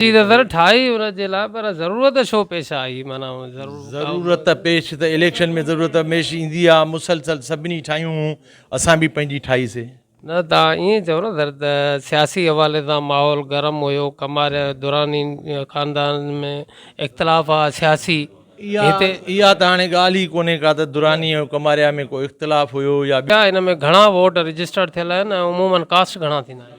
جي نظر ٺاهي ان جي لاء پر ضرورت ڇو پيش آئي معنيٰ ضرور ضرورت پيش ته اليڪشن ۾ ضرورت هميشھ ايندي آ مسلسل سڀني ٺاهيون هون اسان به پنهنجي ٺاهي سي. نه توهان ائين چئو نه سر ته سياسي حوالي سان ماحول گرم هيو ڪماريا جو دراني خاندان ۾ اختلاف آ سياسي هتي. اها ته هاڻي ڳالهه ئي ڪونهي ڪا ته دراني ۽ ڪماريا ۾ ڪو اختلاف هيو يا. ان ۾ گهڻا ووٽ رجسٽرڊ ٿيل آهن ۽ عمومن ڪاسٽ گهڻا ٿيندا آهن.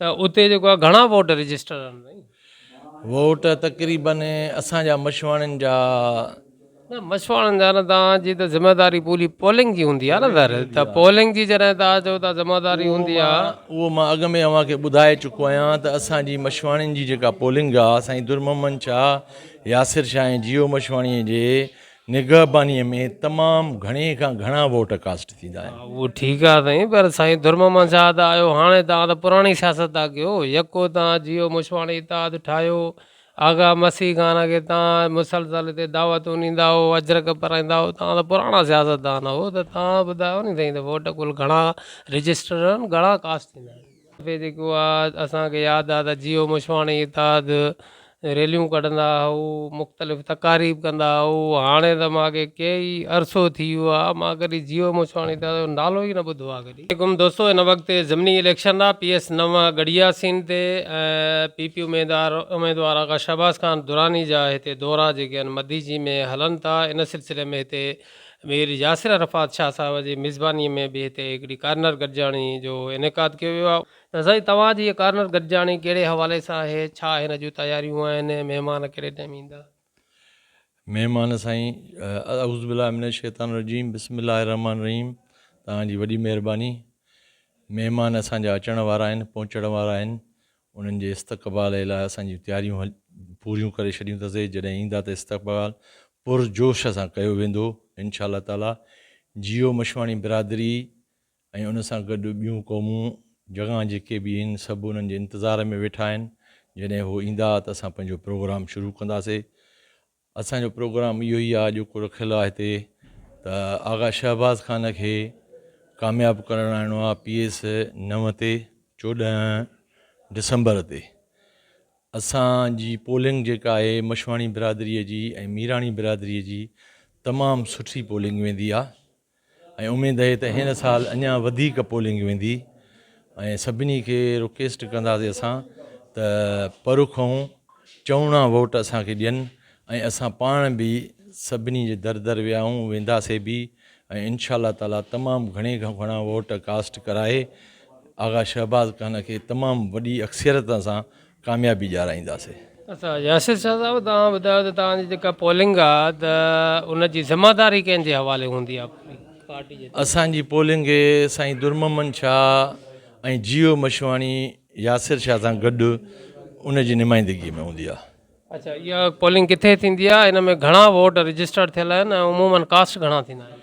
ته اتي جيڪو آهي گهڻا ووٽ رجسٽر آهن سائين. ووٽ تقريبن اسان جا مشواڻين جا. نه مشواڻين جا نه توهان جي ته ذميواري پوري پولنگ جي هوندي آهي نه ظاهر ته پولنگ جي جڏهن توهان چئو ٿا ذميواري هوندي آهي. اهو مان اڳ ۾ اوهان کي ٻڌائي چڪو آهيان ته اسان جي مشواڻين جي جيڪا پولنگ آهي سائين درمحمد شاهه، ياسر شاهه ۽ جيو مشواڻي جي نگهبانيء ۾ تمام گهڻي کان گهڻا ووٽ ڪاسٽ ٿيندا آهن. ها اهو ٺيڪ آهي سائين پر سائين درمحمد شاهه ته آيو هاڻي توهان ته پراڻي سياست ٿا ڪيو يڪو توهان جيو مشواڻي اتحاد ٺاهيو آغا مسيح خان کي توهان مسلسل هتي دعوتون ڏيندا هئو اجرڪ پرائيندا هئو توهان ته پراڻا سياستدان هئو ته توهان ٻڌايو ني سائين ته ووٽ ڪل گهڻا رجسٽر آهن گهڻا ڪاسٽ ٿيندا آهن. دفعي جيڪو آ اسان کي ياد آ ته جيو مشواڻي اتحاد ريليون ڪڍندا هئو مختلف تقاريب ڪندا هئو هاڻي ته مان کي ڪي ئي عرصو ٿي ويو آ مان ڪڏي جيو مشواڻي اتحاد جو نالو ئي نه ٻڌو آ ڪڏي. عليڪم دوستو هن وقت ضمني اليڪشن آ پي ايس نو ڳڙهيا سين تي ۽ پي پي اميدار اميدوار آغا شهباز خان دراني جا هتي دورا جيڪي آهن مديجي ۾ هلن ٿا ان سلسلي ۾ هتي مير ياسر عرفات شاهه صاحب جي ميزبانيء ۾ به هتي هڪڙي ڪارنر گڏجاڻي جو انعقاد ڪيو ويو آهي. ته سائين توهان جي هيء ڪارنر گڏجاڻي ڪهڙي حوالي سان آهي؟ ڇا هن جون تياريون آهن ۽ مهمان ڪهڙي ٽائيم ايندا؟ مهمان سائين اعوذ بالله من الشيطان الرجيم بسم الله الرحمن الرحيم توهان جي وڏي مهرباني مهمان اسان جا اچڻ وارا آهن پهچڻ وارا آهن انهن جي استقبال لاء اسان جون تياريون پوريون ڪري ڇڏيون اٿسي، جڏهن ايندا ته استقبال پر جوش سان ڪيو ويندو انشاء الله تعاليٰ، جيو مشواڻي برادري ۽ ان سان گڏ ٻيون قومون جڳان جيڪي به هين سڀ انهن جي انتظار ۾ ويٺا آهن جڏهن هو ايندا ته اسان پنهنجو پروگرام شروع ڪنداسي اسان جو پروگرام اهو ئي آهي جيڪو رکيل آهي هتي ته آغا شهباز خان کي ڪامياب ڪرڻ آڻڻو آهي پي ايس نو تي چوڏهن ڊسمبر تي اسان جي پولنگ جيڪا آهي مشواڻي برادري جي ۽ ميراڻي برادري جي تمام سٺي پولنگ ويندي آهي ۽ اميد اهي ته هن سال اڃان وڌيڪ پولنگ ويندي ۽ سڀني کي رڪيسٽ ڪنداسي اسان ته پرکئون چوڻا ووٽ اسان کي ڏين ۽ اسان پاڻ به سڀني جي در در ويا آهيون وينداسي به ۽ انشاء الله تعالي تمام گهڻي کان گهڻا ووٽ ڪاسٽ ڪرائي آغا شهباز خان کي تمام وڏي اڪثريت سان ڪاميابي ڏيارائينداسي. اچا ياسر شاهه صاحب توهان ٻڌايو ته توهان جي جيڪا پولنگ آ ته ان جي ذمه داري ڪنهن جي حوالي هوندي آ پارٽي جي طرف. اسان جي پولنگ سائين درمحمد شاهه ۽ جيو مشواڻي ياسر شاهه سان گڏ ان جي نمائندگي ۾ هوندي آ. اچا اها پولنگ ڪٿي ٿيندي آ ان ۾ گهڻا ووٽ رجسٽرڊ ٿيل آهن ۽ عمومن ڪاسٽ گهڻا ٿيندا آهن.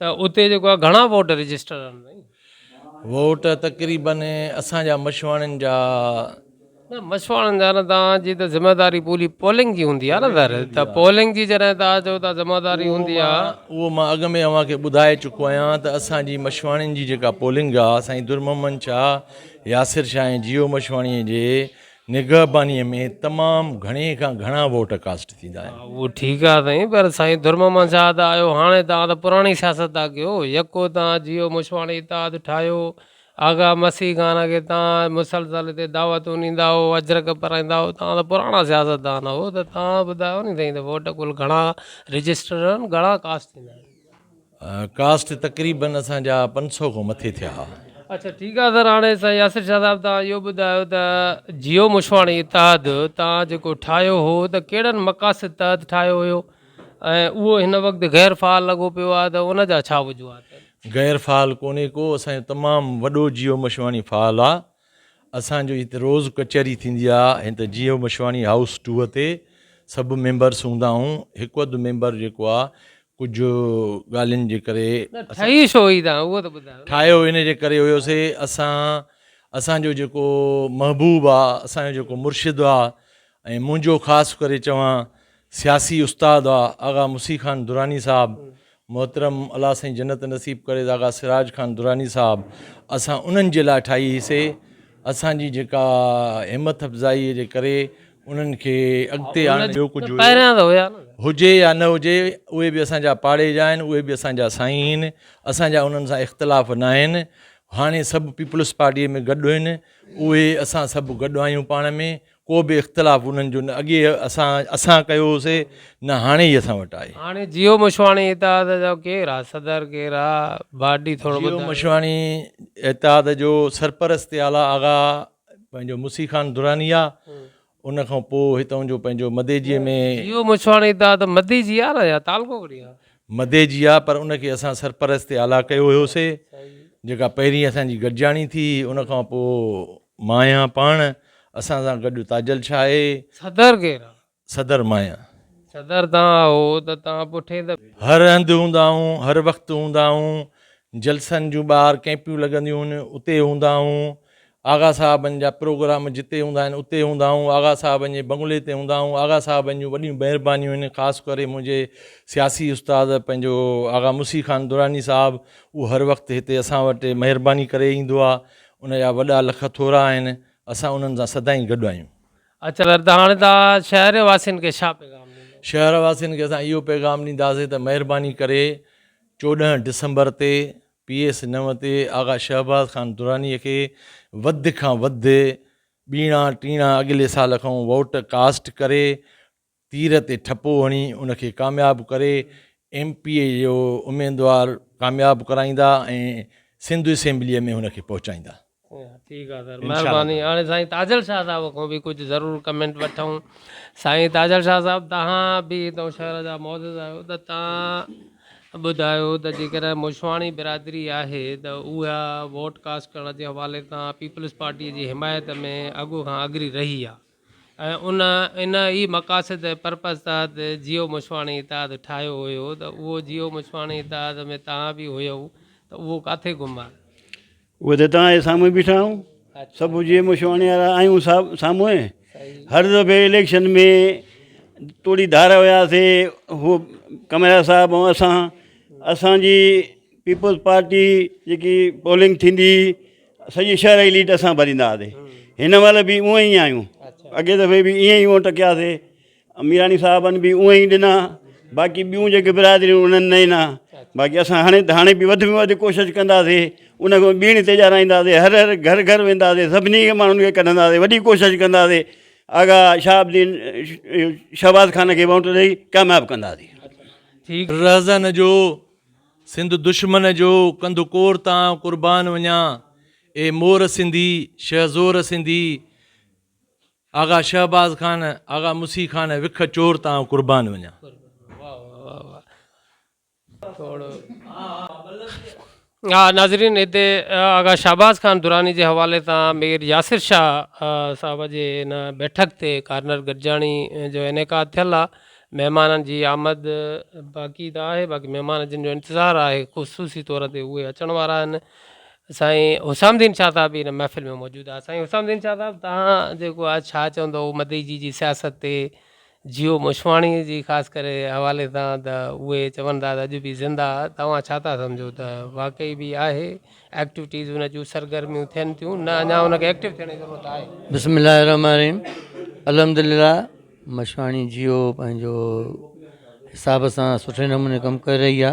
ته اتي جيڪو آهي گهڻا ووٽ رجسٽر آهن سائين. ووٽ تقريبن اسان جا مشواڻين جا. نه مشواڻين جا نه توهان جي ته ذميواري پوري پولنگ جي هوندي آهي نه ظاهر ته پولنگ جي جڏهن توهان چئو ٿا ذميواري هوندي آهي. اهو مان اڳ ۾ اوهان کي ٻڌائي چڪو آهيان ته اسان جي مشواڻين جي جيڪا پولنگ آهي سائين درمحمد شاهه، ياسر شاهه ۽ جيو مشواڻي جي نگهبانيء ۾ تمام گهڻي کان گهڻا ووٽ ڪاسٽ ٿيندا آهن. ها اهو ٺيڪ آهي سائين پر سائين درمحمد شاهه ته آيو هاڻي توهان ته پراڻي سياست ٿا ڪيو يڪو توهان جيو مشواڻي اتحاد ٺاهيو آغا مسيح خان کي توهان مسلسل هتي دعوتون ڏيندا هئو اجرڪ پرائيندا هئو توهان ته پراڻا سياستدان هئو ته توهان ٻڌايو ني سائين ته ووٽ ڪل گهڻا رجسٽر آهن گهڻا ڪاسٽ ٿيندا آهن. ڪاسٽ تقريبن اسان جا پنج سؤ کان مٿي ٿيا ها. اڇا ٺيڪ آ سر هاڻي سائين ياسر شاهه صاحب توهان اهو ٻڌايو ته جيو مشواڻي اتحاد توهان جيڪو ٺاهيو هو ته ڪهڙن مقاصد تحت ٺاهيو هيو ۽ اهو هن وقت غير فعال لڳو پيو آهي ته ان جا ڇا وجوهات آهن. غير فعال ڪونهي ڪو اسان جو تمام وڏو جيو مشواڻي فعال آ اسان جو هت روز ڪچهري ٿيندي آ هين ته جيو مشواڻي هائوس ٽوء تي سڀ ميمبرس هوندا آهون هڪ اڌ ميمبر جيڪو آ ڪجهه ڳالهين جي ڪري ٺهي شو هي تان اهو ته ٻڌايو ٺاهيو ان جي ڪري هيو سي اسان اسان جو جيڪو محبوب آ اسان جو جيڪو مرشد آ ۽ منهنجو خاص ڪري چوان سياسي استاد آغا مسي خان دراني صاحب محترم الله سائين جنت نصيب ڪري آغا سراج خان دراني صاحب اسان انهن جي لاء ٺاهي هيسي اسان جي جيڪا همٿ افزائي جي ڪري انهن کي اڳتي آڻڻ جو ڪجهه هجي يا نه هجي اهي به اسان جا پاڙي جا آهن اهي به اسان جا سائين آهن اسان جا انهن سان اختلاف نه آهن هاڻي سڀ پيپلز پارٽي ۾ گڏ آهن اهي اسان سڀ گڏ آهيون پاڻ ۾ ڪو به اختلاف انهن جو نه اڳي اسان اسان ڪيو هوسي نه هاڻي هي اسان وٽ آهي. هاڻي جيو مشواڻي اتحاد جا ڪير آ صدر ڪير آ باڊي ٿورو ٻڌايو. جيو مشواڻي اتحاد جو سرپرست اعليٰ آغا پنهنجو مسي خان دراني آ ان کان پو هتئون جو پنهنجو مديجي ۾. جيو مشواڻي اتحاد مديجي آ نه يا تعلقو ڪهڙي آ. مدي جي آ پر ان کي اسان سرپرست اعليٰ ڪيو هيوسي جيڪا پهرين اسان جي گڏجاڻي ٿي ان کان پو مايا پاڻ اسان سان گڏ تاجل ڇا آهي؟ صدر ڪير آ؟ صدر مايا. صدر تان آهو ته تان پٺين ته. هر هنڌ هوندا آهون هر وقت هوندا آهون جلسن جون ٻاهر ڪيمپيون لڳنديون هن اتي هوندا آهون آغا صاحبن جا پروگرام جتي هوندا آهن اتي هوندا آهون، آغا صاحبن جي بنگلي تي هوندا آهون، آغا صاحبن جون وڏيون مهربانيون آهن، خاص ڪري منهنجي سياسي استاد پنهنجو آغا مسي خان دراني صاحب اهو هر وقت هتي اسان وٽ مهرباني ڪري ايندو آ، ان جا وڏا لک ٿورا آهن، اسان انهن سان سدائين گڏ آهيون. اچ ور ته هاڻي ته شهر واسين کي ڇا پيغام ڏيندو؟ شهر واسين کي اسان اهو پيغام ڏينداسين ته مهرباني ڪري چوڏهن ڊسمبر تي پي ايس نو تي آغا شهباز خان درانيء کي وڌ کان وڌ ٻيڻا ٽيڻا اڳلي سال کان ووٽ ڪاسٽ ڪري تير تي ٺپو هڻي ان کي ڪامياب ڪري ايم پي اي جو اميدوار ڪامياب ڪرائيندا ۽ سنڌ اسيمبليء ۾ هن کي پهچائيندا. ٺيڪ آ سر مھرباني ھاڻي سائين تاجل شاھ صاحب کان به ڪجھ ضرور ڪمينٽ وٺون سائين تاجل شاھ صاحب تھان به ھتو شھر جا معزز آھيو ته تھان ٻڌايو ته جيڪڏھن موشواڻي برادري آھي ته اھا ووٽ ڪاسٽ ڪرڻ جي حوالي تان پيپلز پارٽي جي حمايت ۾ اڳو کان اگري رھي آ ۽ ان ان ئي مقاصد ۽ پرپز تحت جيو موشواڻي اتحاد ٺاھيو ھيو ته اھو جيو موشواڻي اتحاد ۾ تھان به ھيئو ته اھو ڪاٿي گم آ؟ اهي ته توهان جي سامهون ئي بيٺا آهيون، سڀ جيئي مون شواڻي وارا آهيون سامهون، هر دفعي اليڪشن ۾ توڙي ڌار هيا سي هو ڪمريا صاحب ۽ اسان، اسان جي پيپلز پارٽي جيڪي پولنگ ٿيندي هئي سڄي شهر جي ليڊ اسان ڀريندا هئاسي، هن مهل به اونئي آهيون، اڳي دفعي به ائين ئي ووٽ ڪياسي، اميراڻي صاحبن به اونئن ئي ڏنا باقي ٻيون جيڪي برادريون انهن نه ڏنا باقي اسان هاڻي ته هاڻي به وڌ ۾ وڌ ڪوشش ڪنداسي ان کان ٻيڻي تي ڄاڻائينداسي هر هر گهر گهر وينداسي سڀني کي ماڻهن کي ڪڍنداسي وڏي ڪوشش ڪنداسي آغا شهاب الدين شهباز خان کي ووٽ ڏئي ڪامياب ڪنداسي رهزن جو سنڌ دشمن جو ڪنڌ ڪور تان قربان وڃان اي مور سنڌي شهزور سنڌي آغا شهباز خان آغا مسيح خان وک چور تان قربان وڃان. ناظرين هتي آغا شهباز خان دراني جي حوالي سان مير ياسر شاهه صاحب جي ان بيٺڪ تي ڪارنر گڏجاڻي جو انعقاد ٿيل آ مهمانن جي آمد باقي ته آهي باقي مهمان جن جو انتظار آهي خصوصي طور تي اهي اچڻ وارا آهن سائين حسام الدين شاهه صاحب به ان محفل ۾ موجود آهي سائين حسام الدين شاهه صاحب توهان جيڪو آ ڇا چوندو مدئي جي جي سياست تي جيو مشواڻي جي خاص ڪري حوالي سان ته اهي چون ٿا ته اڄ به زنده آ توهان ڇا ٿا سمجهو ته واقعي به آهي ايڪٽوٽيز ان جون سرگرميون ٿين ٿيون نه اڃا ان کي ايڪٽو ٿيڻ جي ضرورت آهي بسم الله الرحمن الرحيم الحمد لله مشواڻي جيو پنهنجو حساب سان سٺي نموني ڪم ڪري رهي آ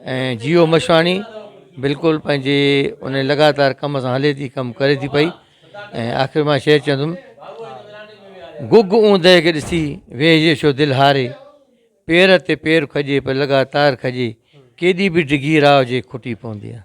۽ جيو مشواڻي بلڪل پنهنجي ان لڳاتار ڪم سان هلي ٿي ڪم ڪري ٿي پئي ۽ آخر مان شعر چوندم گگ اوندهه کي ڏسي ويهجي ڇو دل هاري پير تي پير کڄي پر لڳاتار کڄي ڪيڏي به ڊگهي راهه جي کٽي پوندي آهي